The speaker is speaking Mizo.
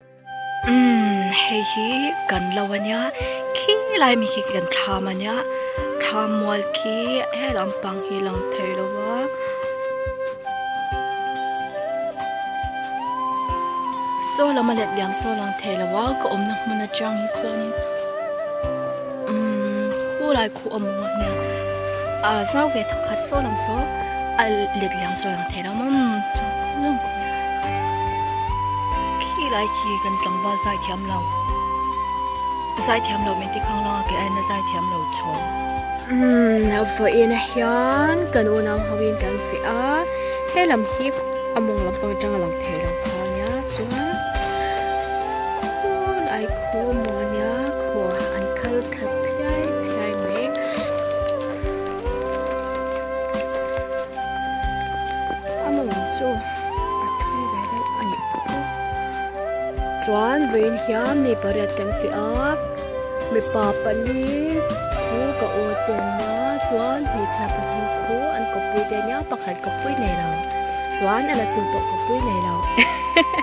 Umm hei hi kan lo a nia khi lai mi khi kan thlam a nia thlam mual khi he lampang hi lang thei lo va saw lama let liam saw lang thei lo va ka awmna hmun atang hi chuanin umm khulai khuh a maw nia a zau ve thawk khat saw lam saw a let liam saw a lang thei lo. Ramam chu zawng khawp khi lai khi kan tlangval zai thiam lo zai thiam lo min ti khang langa keh aina zai thiam lo chawng umm a vawi in a hian kan unau ho in kan feh a he lam hi a mawng lampang atang a lang thei lo kha nia chuan khawn ai khaw a mawng ania khaw an kal thla thlai thlai mai. a mawng chu a thui ve deuh a nih pawh o chuan vei in hian mi pariat kan fiah a mipa pali thu ka awrhtir na chuan hmeichhia pathum thu an kawppui te nia pakhat kawppui nei lo chuan a la tu pawh kawppui nei lo hehehe.